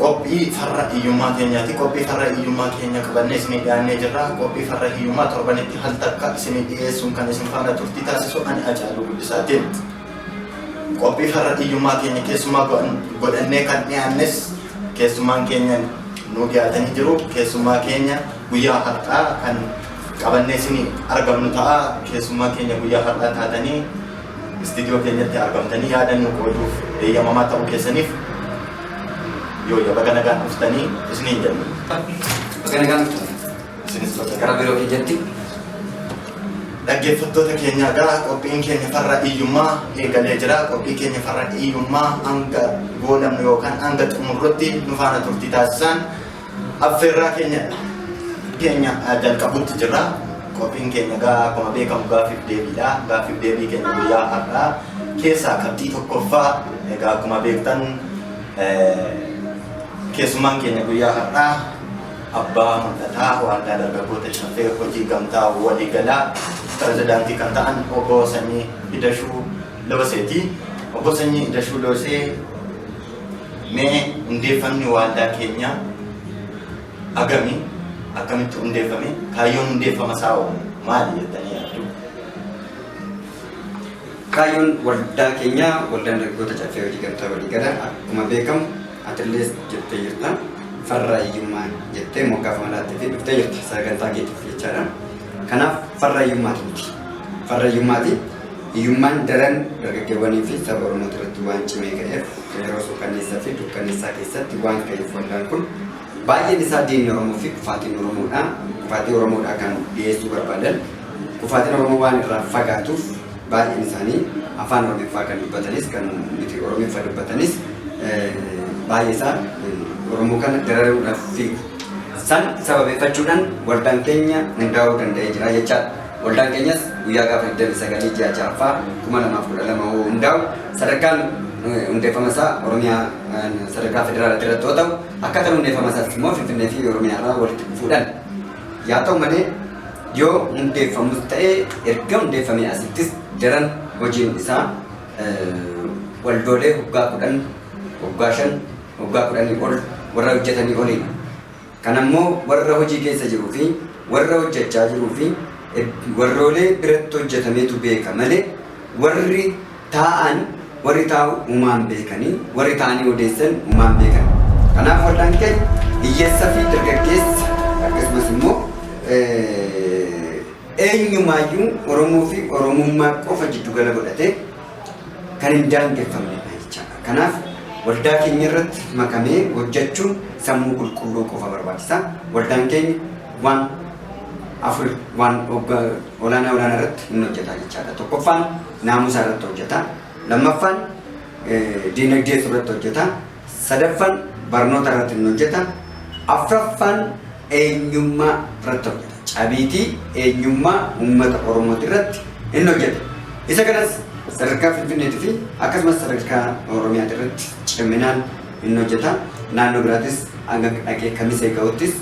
Qophii farra hiyyummaa keenyaati. Qophii farra hiyyummaa keenya qabannee isinii dhiyaannee jirra. Qophii farra hiyyummaa torbanitti hal takka isinii dhiyeessuun kan isin faana turtii taasisu ani Hacaaluu Guddisaatiin. Qophii farra hiyyummaa keenya keessumaa godhannee kan dhiyaannes keessumaan keenya nuu dhiyaatanii jiru. Keessumaa keenya guyyaa har'aa kan qabannee isinii argamnu ta'a. Keessumaa keenya guyyaa har'aa taatanii istiidiyoo keenyatti argamtanii yaada nuu qooduuf eeyyamamaa ta'uu keessaniif Yooya baga nagaan dhuftanii isiniin jenna. Baga nagaan dhuftan. Isinis baga Gara biroo keenyatti. Dhaggeeffattoota keenya egaa qophiin keenya farra hiyyummaa eegalee jira. Qophii keenya farra hiyyummaa hanga goolabnu yookaan hanga xumurrutti nu faana turtii taasisaan. Affeerraa keenya keenya jalqabutti jirra. Qophiin keenya gaa akkuma beekamu gaaffiif deebiidha. Gaaffiif deebii keenya guyyaa har'aa keessaa qabxii tokkoffaa egaa akkuma beektan keessummaan keenya guyyaa har'aa abbaa mul'ataa waaldaa dargaggoota caffee hojii gamtaa waliigalaa pirezidaantii kan ta'an obbo Sanyii Idashuu Looseeti. Obbo Sanyii Idashuu Loosee Mee hundeeffamni waaldaa keenyaa agami akkamitti hundeeffame kaayyoon hundeeffama isaa hoo maali jettanii yaaddu? Kaayyoon waldaa keenyaa waldaan dargaggoota caffee hojii gamtaa walii gala akkuma beekamu atilees jettee jirta farra hiyyummaa jettee moggaafama laattee fi dhuftee jirta sagantaa keetiif jechaadha. Kanaaf farra hiyyummaati miti. Farra hiyyummaati Hiyyummaan daran dargaggeewwanii fi saba Oromoo irratti waan cimee ka'eef yeroo suukanneessaa fi dukkanneessaa keessatti waan ka'eef waldaan kun baay'een isaa diinni Oromoo fi kufaatiin Oromoodha. Kufaatii Oromoodha kan dhiyeessuu barbaadan. Kufaatiin Oromoo waan irraa fagaatuuf baay'een isaanii afaan Oromiffaa kan dubbatanis kan miti Oromiffa dubbatanis baay'ee isaa Oromoo kana dararuudhaaf fiigu. San sababeeffachuudhaan waldaan keenya hundaa'uu danda'ee jira jechaadha. Waldaan keenyas guyyaa gaafa 29 ji'a 6ffaa 2012 hoo hundaa'u sadarkaan hundeeffama isaa Oromiyaa sadarkaa federaalaatti irratti yoo ta'u akkaataan hundeeffama isaas immoo Finfinnee fi Oromiyaa irraa walitti dhufuudhaan yaa ta'u malee yoo hundeeffamus ta'ee erga hundeeffamee asittis daran hojiin isaa waldoolee waggaa kudhan waggaa shan waggaa kudhanii ol warra hojjetanii oliin Kana immoo warra hojii keessa jiruu fi warra hojjachaa jiruu fi warroolee biratti hojjatameetu beeka malee warri taa'an warri taa'u humaan beekanii warri taa'anii odeessan humaan beekan. Kanaaf waldaan keenya hiyyeessa fi dargaggeessa akkasumas immoo eenyumaayyuu Oromoo fi Oromummaa qofa jiddugala godhatee kan hin daangeffamne dha jechaadha. Kanaaf waldaa keenya irratti makamee hojjechuun sammuu qulqulluu qofa barbaachisa. Waldaan keenya waan afur waan ogga- olaanaa olaanaa irratti hin hojjeta jechaadha. Tokkoffaan naamusa irratti hojjeta. Lammaffaan eh, diinagdee irratti hojjeta. Sadaffan barnoota irratti hin hojjeta. Afraffan eenyummaa irratti hojjeta. Cabiitii eenyummaa uummata Oromooti irratti hin hojjeta. Isa kanas sadarkaa Finfinneetii fi akkasumas sadarkaa Oromiyaati irratti ciminaan hin hojjeta. Naannoo biraatis hanga dhaqee Kamisee ga'uttis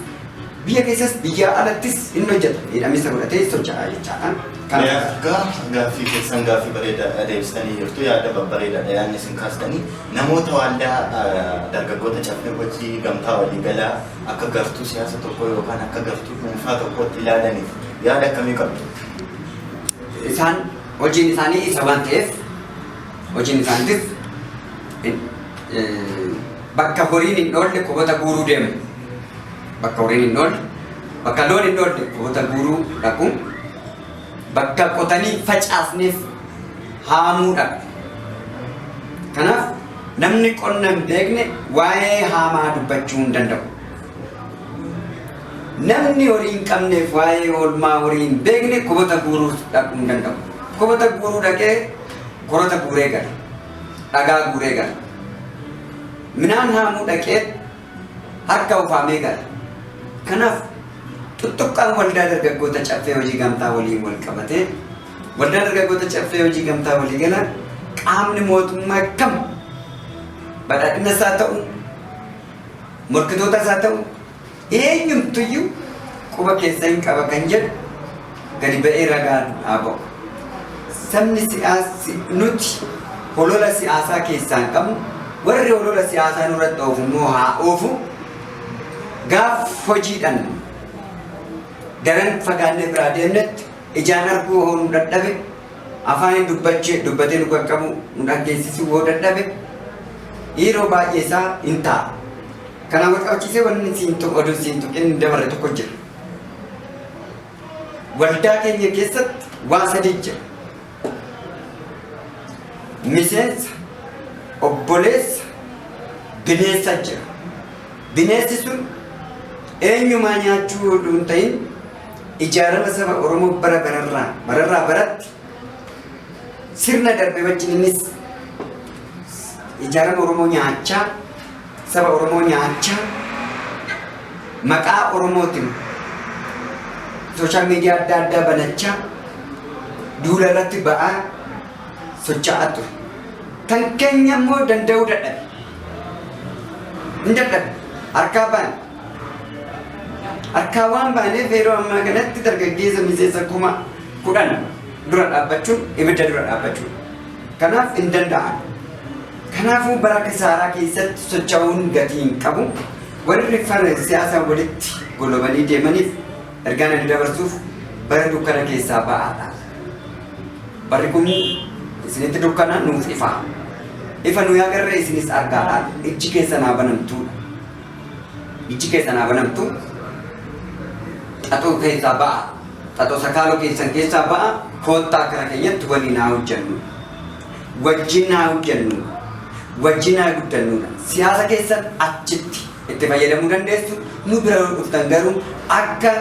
Biyya keessas biyyaa alattis hin hojjeta hidhamisa godhatee socha'a jechaadha. Kana Yaa gaaf- gaaffii keessan gaaffii bareedaadha deebistanii jirtu yaada babbareedaadha yaadni isin kaastanii namoota waaldaa ah, dargaggoota caffee hojii gamtaa waliigalaa akka gartuu siyaasa tokkoo yookaan akka gartuu dhuunfaa tokkootti ilaalaniif yaada akkamii qabdu? isaan hojiin isaanii isa waan ta'eef hojiin isaaniitis eh, eh, Bakka horiin hin dhoolle qubota guuruu deemu. Bakka horiin hin dhoolle, bakka loon hin dhoolle qubota guuruu dhaqu. Bakka qotanii facaafneef haamuu dhaqu. Kanaaf namni qonna hin beekne waa'ee haamaa dubbachuu hin danda'u. Namni horii hin qabneef waa'ee oolmaa horii hin beekne qubota guuruu dhaquu hin danda'u. Qubota guuruu dhaqee korota guuree gala. dhagaa guuree gala. Minaan haamuu dhaqee harka ufaamee gala. Kanaaf tuttuqqaan waldaa dargaggoota caffee hojii gamtaa waliin wal qabatee waldaa dargaggoota caffee hojii gamtaa walii gala qaamni mootummaa kam badhaadhina isaa ta'u morkitoota isaa ta'u Eenyumtuyyuu quba keessa hin qaba kan jedhu gadi ba'ee ragaan haa ba'u. Sabni siyaasi nuti holola siyaasaa keessaa hin qabnu warri holola siyaasaa nurratti oofu immoo haa oofu gaaf hojiidhaan daran fagaannee biraa deemnetti ijaan arguu hoo nu dadhabe afaaniin dubbachee dubbatee nu qaqqabu nu dhaggeessisuu hoo dadhabe yeroo baay'ee isaa hin ta'a. Kanaan wal qabachiisee wanni siin tuqu oduu siin tuqin hin dabarre tokko jira. Waldaa keenya keessatti waan sadii jira. Miseensa, obboleessa, bineensa jira. Bineensi sun eenyumaa nyaachuu oduu hin ta'in ijaarama saba Oromoo bara bararraa bararraa baratti sirna darbe wajjin innis ijaarama Oromoo nyaachaa Saba Oromoo nyaachaa maqaa Oromootin social media adda addaa banachaa duula irratti ba'aa socha'aa ture. Kan keenya immoo danda'uu dadhabe. Hin dadhabe. Harkaa baane. Harkaa waan baaneef yeroo ammaa kanatti dargaggeessa miseensa kuma kudhan dura dhaabbachuun ibidda dura dhaabbachuun. Kanaaf hin danda'an. Kanaafuu bara kisaaraa keessatti socha'uun gatii hin qabu. Warri fana siyaasaan walitti golobanii deemaniif ergaan ani dabarsuuf bara dukkana keessaa ba'aadha. Barri kun isinitti dukkana nuuf ifa. Ifa nuyi agarre isinis argaadha. Ijji keessan haa banamtuudha. Ijji keessan haa banamtu. Xaxoo keessaa ba'a. Xaxoo sakaaloo keessan keessaa ba'a. Koottaa kara keenyatti waliin haa hojjennu. wajjin haa hojjennu, wajjin haa guddannuudha. Siyaasa keessan achitti itti fayyadamuu dandeessu, nu bira yoo dhuftan garuu akka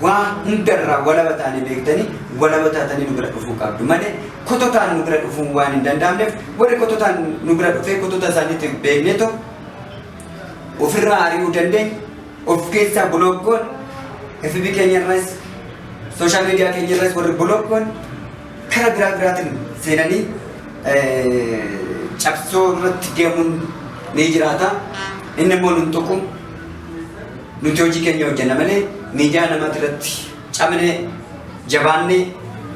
waan hundarraa walaba taane beektanii walaba taatanii nu bira dhufuu qabdu malee kototaan nu bira dhufuun waan hin danda'amneef warri kototaan nu bira dhufee kotota isaaniitti beeknee too ofirraa ari'uu dandeenya of keessaa bulokkoon FB keenyarras sooshaal miidiyaa keenyarras warri bulokkoon kara biraa biraatiin seenanii cabsoo irratti deemuun ni jiraata. Inni immoo nun tuqu nuti hojii keenya hojjenna malee miidiyaa namaati irratti cabnee jabaannee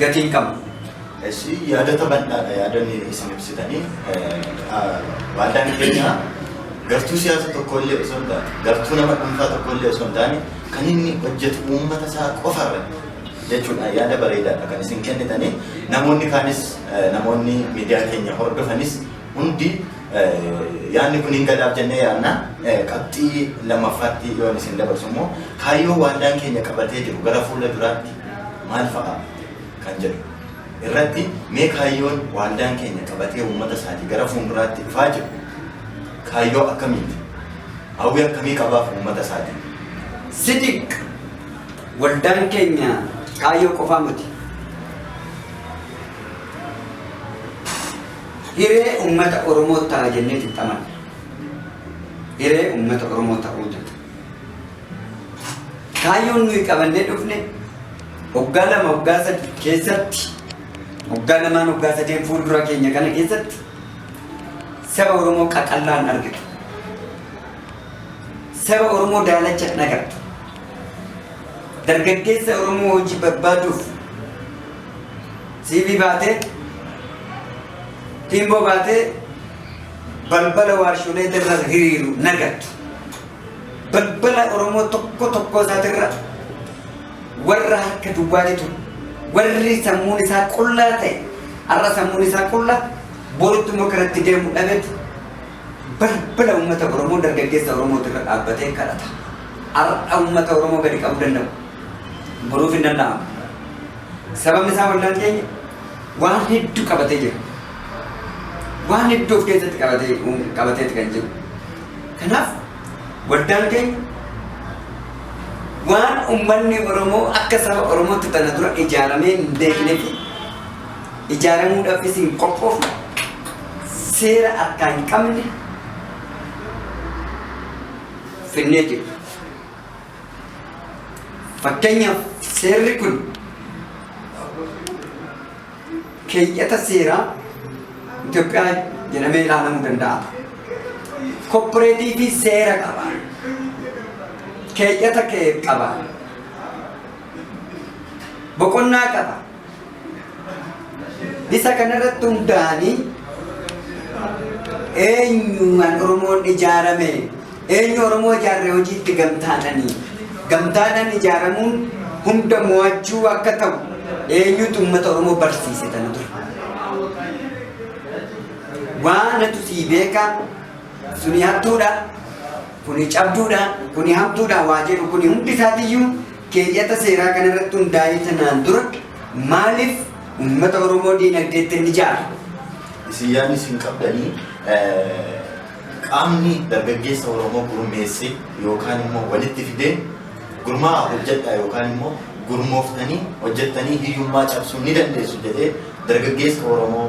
gatii hin qabnu. Eessi yaadota bal'aadha yaadonni isin ibsitanii waldaan keenya gartuu siyaasa tokko illee osoo hin taane gartuu nama dhuunfaa tokko illee osoo hin taane kan inni hojjetu uummata isaa qofa irratti jechuudhaan yaada bareedaadha kan isin kennitanii namoonni kaanis namoonni miidiyaa keenya hordofanis hundi yaadni kun hin galaaf jennee yaadna qabxii lammaffaatti yoo isin dabarsu immoo kaayyoo waaldaan keenya qabatee jiru gara fuula duraatti maal fa'a kan jedhu irratti mee kaayyoon waaldaan keenya qabatee uummata isaatii gara fuulduraatti dhufaa jiru kaayyoo akkamiiti hawwii akkamii qabaaf uummata isaatii sidiq Waldaan keenya kaayyoo qofaa miti. Hiree uummata Oromoo ta'a jennee xixxaman. Hiree uummata Oromoo ta'uu jetta. Kaayyoon nuyi qabannee dhufne waggaa lama waggaa sadi keessatti waggaa lamaan waggaa sadeen fuuldura keenya kana keessatti saba Oromoo qaqallaan argitu. Saba Oromoo daalacha hin agartu. Dargaggeessa Oromoo hojii barbaaduuf CV baatee tiimboo baatee balbala waarsholee irra hiriiru hin agartu. Balbala Oromoo tokko tokko isaatirra warra harka duwwaatitu warri sammuun isaa qullaa ta'e har'a sammuun isaa qullaa borutti immoo karatti deemu dhabetu Balbala uummata Oromoo dargaggeessa Oromooti irra dhaabbatee kadhata. Har'a uummata Oromoo gadi qabuu danda'u. Boruuf hin danda'amu. Sababni isaa wallaan keenya waan hedduu qabatee jira. Waan hedduu of keessatti qabatee qabateeti kan jiru. Kanaaf waldaan keenya waan uummanni Oromoo akka saba Oromootti tana dura ijaaramee hin beeknetti ijaaramuudhaafis hin qophoofne seera akkaa hin qabne finnee jirra. Fakkeenyaaf seerri kun keeyyata seeraa Itoophiyaa jedhamee ilaalamuu danda'a. Koppareetiivii seera qaba. Keeyyata kee qaba. Boqonnaa qaba. Isa kanarratti hundaa'anii eenyumaan Oromoon ijaarame eenyu Oromoo ijaarre hojiitti gamtaadhanii gamtaadhaan ijaaramuun hunda mo'achuu akka ta'u eenyutu uummata Oromoo barsiise tana ture. Waanatu sii beekaa suni hattuudha. kuni cabduudha, kuni hamtuudha waa jedhu kuni hundi isaatiyyuu keeyyata seeraa kana irratti hundaa'ee tanaan dura maaliif uummata Oromoo diinagdeetti hin ijaare? Isin yaadni isin qabdanii qaamni dargaggeessa Oromoo gurmeessee yookaan immoo walitti fidee gurmaa'aa hojjedhaa yookaan immoo gurmooftanii hojjettanii hiyyummaa cabsuu ni dandeessu jedhee dargaggeessa Oromoo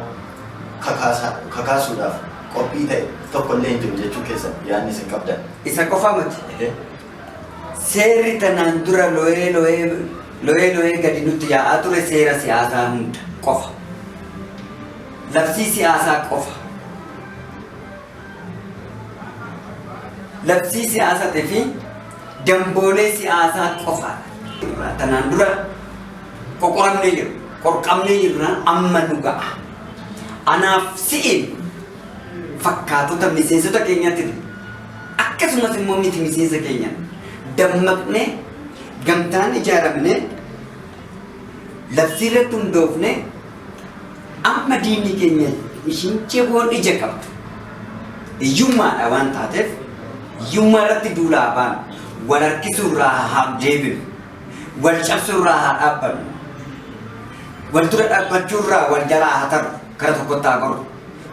kakaasuudhaaf qophii ta'e tokko illee hin jiru jechuu keessan yaadni isin qabdan. Isa qofa miti. Ehee. Seerri tanaan dura looyee looyee looyee looyee gadi nutti yaa'aa ture seera siyaasaa hunda qofa. Labsii siyaasaa qofa. Labsii siyaasaatii fi damboolee siyaasaa qofa. Tanaan dura qoqoramnee jirra. Qorqamnee jirra amma nu ga'a. Anaaf si'iin fakkaatota miseensota keenyatti akkasumas immoo miti miseensa keenya dammaqnee gamtaan ijaaramnee labsii irratti hundoofnee amma diinni keenya ishiin ciboon ija qabdu hiyyummaadha waan taateef hiyyummaa irratti duulaa baan wal harkisuu irraa haa deebinu. wal cabsuu irraa haa dhaabbannu. Wal dura dhaabbachuu irraa wal jalaa haa taru. Kara tokkotti haa goru.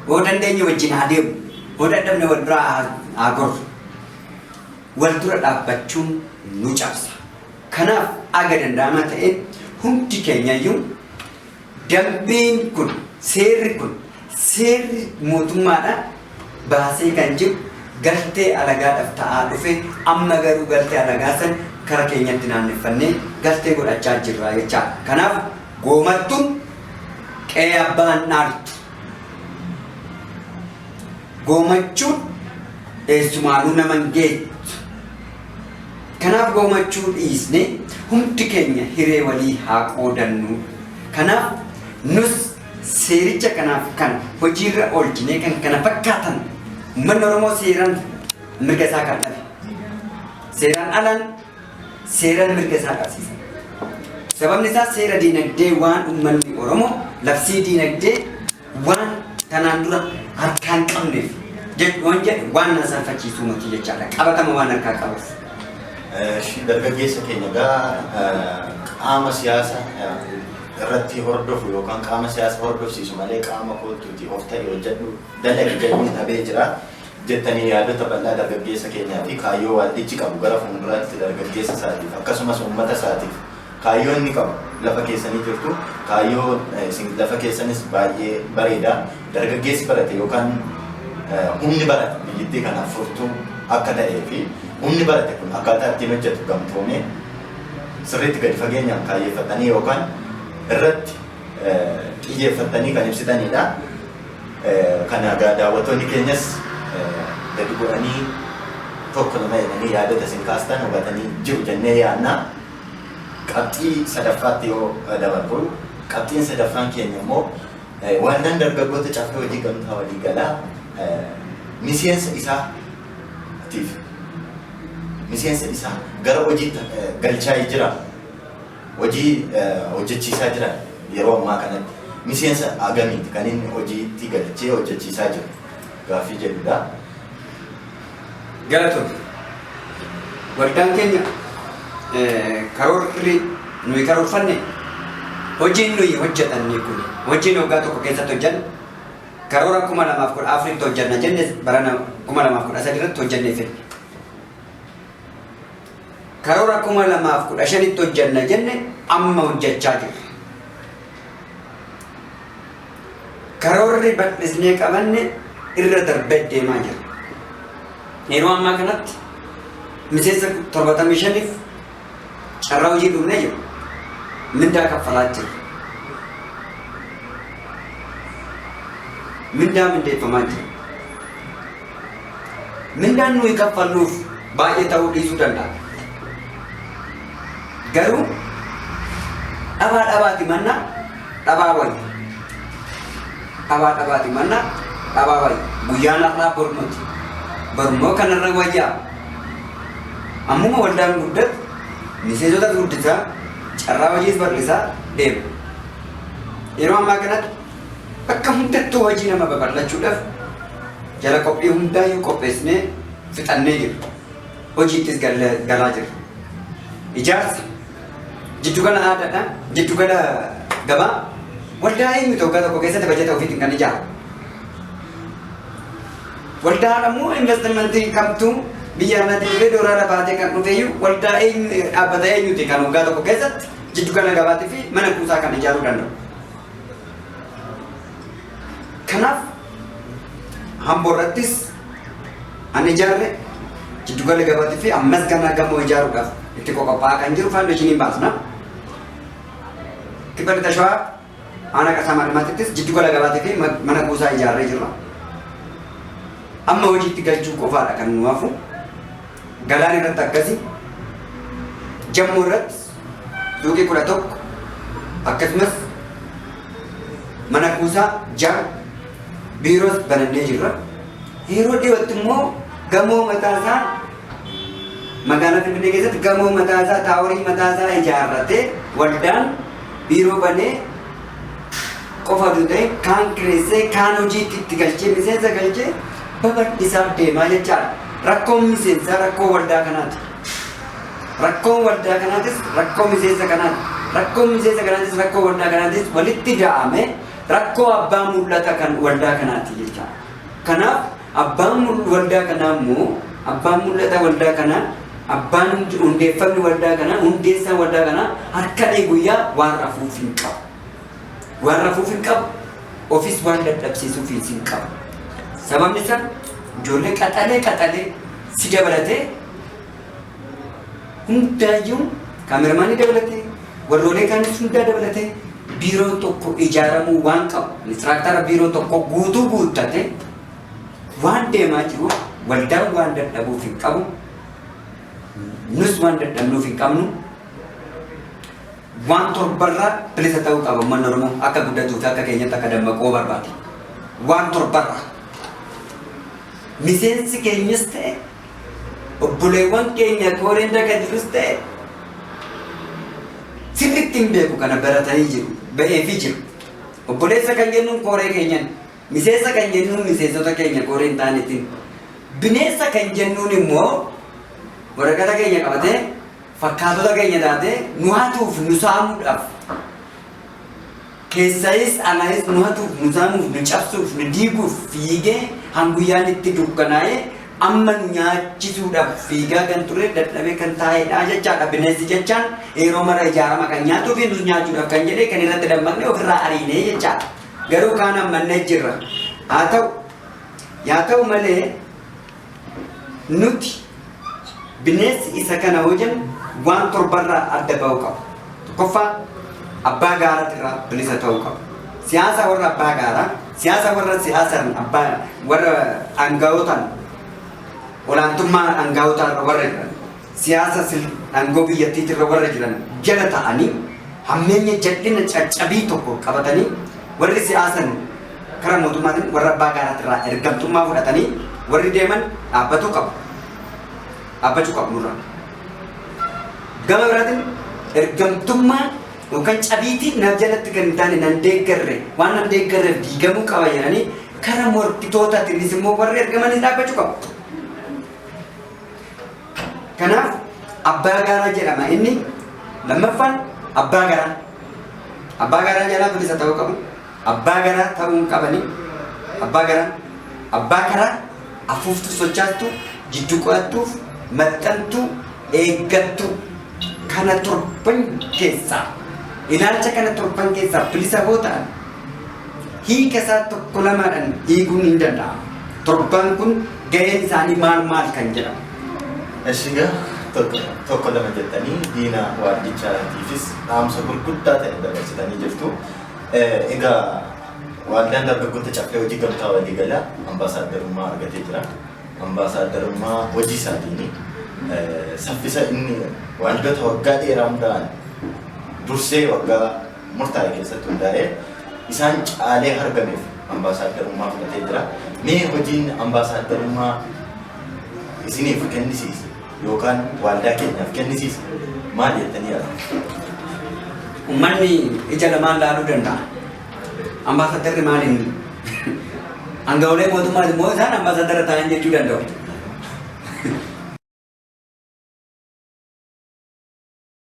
Hoo dandeenye wajjin haa deemu. Hoo dadhabne wal biraa haa- haa goru. Wal dura dhaabbachuun nu cabsa. Kanaaf aga danda'amaa ta'een hundi keenyayyuu Dambiin kun, seerri kun, seerri mootummaadha baasee kan jiru galtee alagaadhaf ta'aa dhufe amma garuu galtee alagaa san kara keenyatti naanneffannee galtee godhachaa jirra jechaadha. Kanaaf goomartuun qe'ee abbaa hin dhaaltu. Goomachuun eessumaanuu nama hin geettu. Kanaaf goomachuu dhiisnee hundi keenya hiree walii haa qoodannu. Kanaaf nus seericha kanaaf kan hojiirra oolchinee kan kana fakkaatan uummanni Oromoo seeraan mirga isaa kan dhabe. Seeraan alaan seeraan mirga isaa qabsiisa. Sababni isaa seera diinagdee waan uummanni Oromoo labsii diinagdee waan tanaan dura harkaa hin qabneef jedhu waan jedhu waan na salfachiisuu miti jechaadha. Qabatama waan harkaa qabuuf. Shi dargaggeessa keenya gaa qaama siyaasa irratti hordofu yookaan qaama siyaasa hordofsiisu malee qaama kootuuti of ta'e hojjedhu dalagi jedhuun dhabee jira. jettanii yaadota bal'aa dargaggeessa keenyaa fi kaayyoo waaldichi qabu gara fuunduraatti dargaggeessa isaatiif akkasumas uummata isaatiif kaayyoo inni qabu lafa keessanii jirtu kaayyoo isin lafa keessanis baay'ee bareeda dargaggeessi barate yookaan humni barate biyyittii kanaaf furtuu akka ta'ee fi humni barate kun akkaataa ittiin hojjetu gamtoomee sirriitti gadi fageenyaan kaayyeeffatanii yookaan irratti xiyyeeffatanii kan ibsitanidha. Kana egaa daawwattoonni keenyas gadi bu'anii tokko lama jedhanii yaadota isin kaastan hubatanii jiru jennee yaadna. Qabxii sadaffaatti yoo dabarru, qabxiin sadaffaan keenya immoo Waldaan Dargaggoota Caffee Hojii Gamtaa Waliigalaa miseensa isaatiif miseensa isaa gara hojiitti galchaa jira. Hojii hojjechiisaa jiran yeroo ammaa kanatti miseensa hagamiiti kan inni hojiitti galchee hojjechiisaa jiru gaaffii jedhudha. Galatomi. Waldaan keenya karoorri nuyi karoorfanne hojiin nuyi hojjetanne kun hojiin waggaa tokko keessatti hojjanne karoora 2014tti hojjanna jenne barana 2013 irratti hojjannee fidne. Karoora 2015tti hojjenna jenne amma hojjechaa jirra. Karoorri bal'isnee qabanne irra darbee deemaa jira. Yeroo ammaa kanatti miseensa 75f carraa hojii dhumnee jiru. Mindaa kaffalaa jiru. Mindaa mindeeffamaa jiru. Mindaan nuyi kaffalluuf baay'ee ta'uu dhiisuu danda'a. Garuu dhabaa dhabaati manna dhabaa wayya. Dhabaa dhabaati manna dhabaa wayya. Guyyaan har'aa bor miti. Borummoo kanarra wayyaa. Ammuma waldaan guddatu miseensota guddisaa carraa hojiis bal'isaa deema. Yeroo ammaa kanatti Bakka hundattuu hojii nama babal'achuudhaaf jara qophii hundaayyuu qopheessinee fixannee jirra. Hojiittis galle- galaa jirra. Ijaarsa jiddugala aadaadha. Jiddugala gabaa waldaa eenyutu waggaa tokko keessatti bajata ofiitiin kan ijaaru. Waldaa ammoo investimentii kamtu biyya alaatii dhufee doolaara baatee kan dhufeeyyuu waldaa eenyu dhaabbata eenyuti kan waggaa tokko keessatti jiddugala gabaatii fi mana kuusaa kan ijaaruu danda'u. Kanaaf Amboo irrattis an ijaarre jiddugala gabaatti fi ammas ganaa gamoo ijaaruudhaaf itti qophaa'aa kan jiru faawundeeshiniin baasna. Kibba lixa shawaa aanaa qasaa maadhimaatittis jiddugala gabaatti fi mana kuusaa ijaarree jirra. Amma hojiitti galchuu qofaadha kan nu hafu. Galaan irratti akkasi. Jammoo irratti Luuqii 11 akkasumas mana kuusaa 6 biiroos banannee jirra. Yeroo dhiyootti immoo gamoo mataasaa magaalaa Finfinnee keessatti gamoo mataasaa taaworii mataasaa ijaarratee waldaan biiroo banee qofa osoo ta'e kaan kireessee kaan hojiitti itti galchee miseensa galchee babal'isaa deemaa jechaadha. Rakkoon miseensaa rakkoo waldaa kanaati. Rakkoon waldaa kanaatis rakkoo miseensa kanaati. Rakkoon miseensa kanaatis rakkoo waldaa kanaatis walitti ga'amee rakkoo abbaa mul'ata kan waldaa kanaati jecha. Kanaaf abbaan mul- waldaa kanaa immoo abbaan mul'ata waldaa kanaa abbaan hund- hundeeffamni waldaa kanaa hundeessaan waldaa kanaa halkanii guyyaa waan rafuuf hin qabu. Waan rafuuf hin qabu, ofis waan dadhabsiisuufiis hin qabu. Sababni isaa ijoollee qaxalee qaxalee si dabalatee hundaayyuu kaameramaanii dabalatee warroolee kaanis hundaa dabalatee biiroo tokko ijaaramuu waan qabu inistiraaktaara biiroo tokko guutuu guuttate waan deemaa jiru waldaan waan dadhabuuf hin qabu nus waan dadhabnuuf hin qabnu Waan torbarraa bilisa ta'uu qaba uummanni Oromoo akka guddatuu fi akka keenyatti akka dammaquu barbaade. Waan torbarraa. Miseensi keenyas ta'e obboleewwan keenya kooreen daga jirus ta'e sirriitti hin beeku kana baratanii jiru ba'eefi jiru. Obboleessa kan jennuun kooree keenyan miseensa kan jennuun miseensota keenya kooree hin taanetiin bineensa kan jennuun immoo waraqata keenya qabatee fakkaatota keenya taatee nu hatuuf nu saamuudhaaf keessayis alayis nu hatuuf nu saamuuf nu cabsuuf nu diiguuf fiigee hanguyyaan itti dukkanaa'ee amma nu nyaachisuudhaaf fiigaa kan ture dadhabee kan taa'edha jechaadha bineensi jechaan yeroo mara ijaarama kan nyaatuu fi nus nyaachuudhaaf kan jedhee kan irratti dammaqne ofirraa ariinee jechaadha garuu kaan ammannee jirra haa ta'u yaa ta'u malee Nuti bineensi isa kana yoo jennu waan torbarraa adda ba'uu qaba. Tokkoffaa abbaa gaaratirraa bilisa ta'uu qaba. Siyaasa warra abbaa gaaraa, siyaasa warra siyaasaan abbaa warra aanga'ootaan olaantummaa aanga'ootaarra warra jiran. siyaasa sirn aangoo biyyattiitirra warra jiran jala ta'anii hammeenya jal'ina caccabii tokko qabatanii warri siyaasaan kara mootummaatiin warra abbaa gaaraatirraa ergamtummaa fudhatanii warri deeman dhaabbatuu qabu. Dhaabbachuu qabu nurra. Gama biraatiin ergamtummaa yookaan cabiitii na jalatti kan hin taane nan deeggarre waan nan deeggarreef diigamuu qaba jedhanii kara morkitootaatiinis immoo warri ergamanii dhaabbachuu qabu. Kanaaf abbaa gaaraa jedhama inni lammaffaan abbaa garaa. Abbaa garaa jalaa bilisa ta'uu qabu. Abbaa garaa ta'uu hin qabani. Abbaa garaa abbaa karaa afuuftuu sochaattu jiddu qo'attuuf maxxantuu eeggattu kana torban keessaa ilaalcha kana torban keessaa bilisa boo ta'an hiika isaa tokko lamaadhaan hiikuun hin danda'amu. Torbaan kun gaheen isaanii maal maal kan jedhamu. Ashigaa tokko tokko lama jettanii diina waaldichaatiifis dhaamsa gurguddaa ta'e dabarsitanii jirtu. Eh, Egaa waaldaan dargaggoota caffee hojii gamtaa waliigalaa ambaasaaddarummaa argatee jira. Ambaasaaddarummaa hojii isaatiin eh, saffisa inni waaldoota waggaa dheeraa hundaa'an dursee waggaa murtaa'e keessatti hundaa'ee isaan caalee hargameef ambaasaaddarummaa fudhatee jira. Mee hojiin ambaasaaddarummaa isiniif kennisiise yookaan waaldaa keenyaaf kennisiise maal jettanii yaaddu? Uummanni ija lamaan laaluu danda'a. Ambaasaaddarri maaliin aanga'oolee mootummaa immoo isaan ambaasaaddarra taa'an jechuu danda'u.